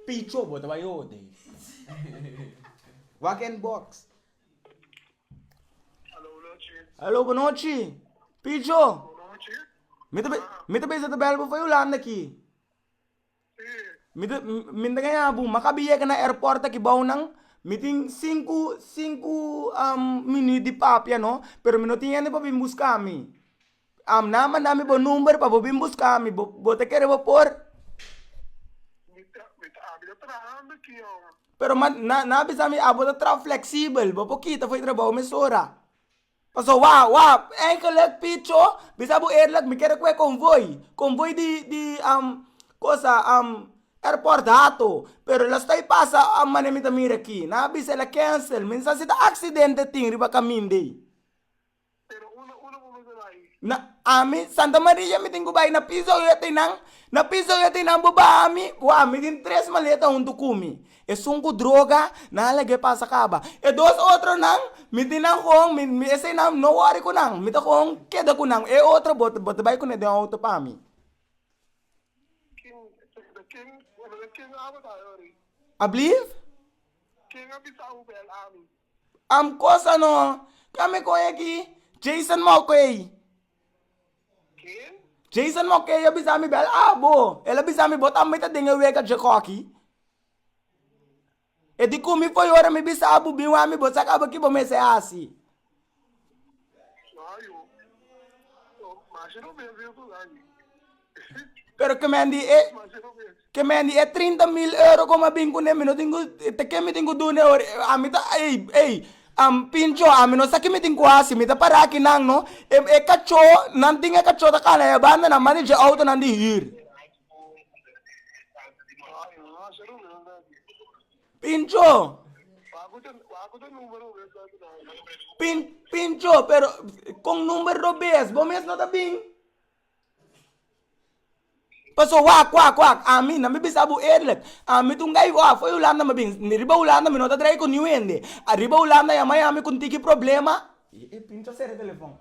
Picho bo ta bai hoda wak en box. Hallo bo nochi picho mi ta bisa ta bel bo for hulanda aki mi ta gana bo maka bi yega na airport aki bou nan mi tin sinku sinku minit di papia no pero mi no tin hende pa bin buscami A mna a manda mi bo number pa bo bin buska mi, bo ta kere bo por? Mi ta, mi ta, mi ta trahando aki hombre. Pero ma na na bisa mi abo ta tra flexibel bo por kita fo'i trabou mesora paso wa wa eigenlijk picho bisa bo eerlijk mi kere koe konvoi konvoi di di kosa airport hato pero lo stay pasa a mane mi ta mira aki na bisa el a kensel mi sa si ta aksidente tin riba kamin dei. Na ami Santa Maria mi tin ku bai na piso yo te nan, na piso yo te nan bo baha mi, bo a mi tin tres maleta huntu ku mi. Esun ku droga nan a lag'é pasa kaba. E dos otronan mi tin nan kon, mi esei nan no wòri ku nan, mi ta kon keda ku nan. E otro bo ta bai kuné den outo pa mi. Ablief? Am cosa no ka me cohe aki. Jason Mulcahy. Ken? Jason Mulcahy a bisa mi bel abo. El a bisa mi bo tambe ta den e wega dje koki. E di cu mi foyora mi bisa abo bin wami bo sa caba ki bo mester hasi. Pero ke men di e, ke men di e trinta mil euro ku a bin ku ne mi no tin ku te ke mi tin ku dune ora e a mi ta ey ey am pincho a mi no sa ke mi tin ku hasi mi ta para aki nan no e kacho nan tin e kacho ta kanda e banda nan manda dje outo nan di hür. Pincho! Pin, Pincho, pero con number dos bes bo mes no ta bin? Paso wak, wak, wak, ami, nan mi bisa bo eerlijk, ami ta un gay wak for Hulanda mi bin, mi riba Hulanda mi no ta draaie con niu hende, ariba Hulanda yama yami con tiki problema, y e Pincho a sera e telefon.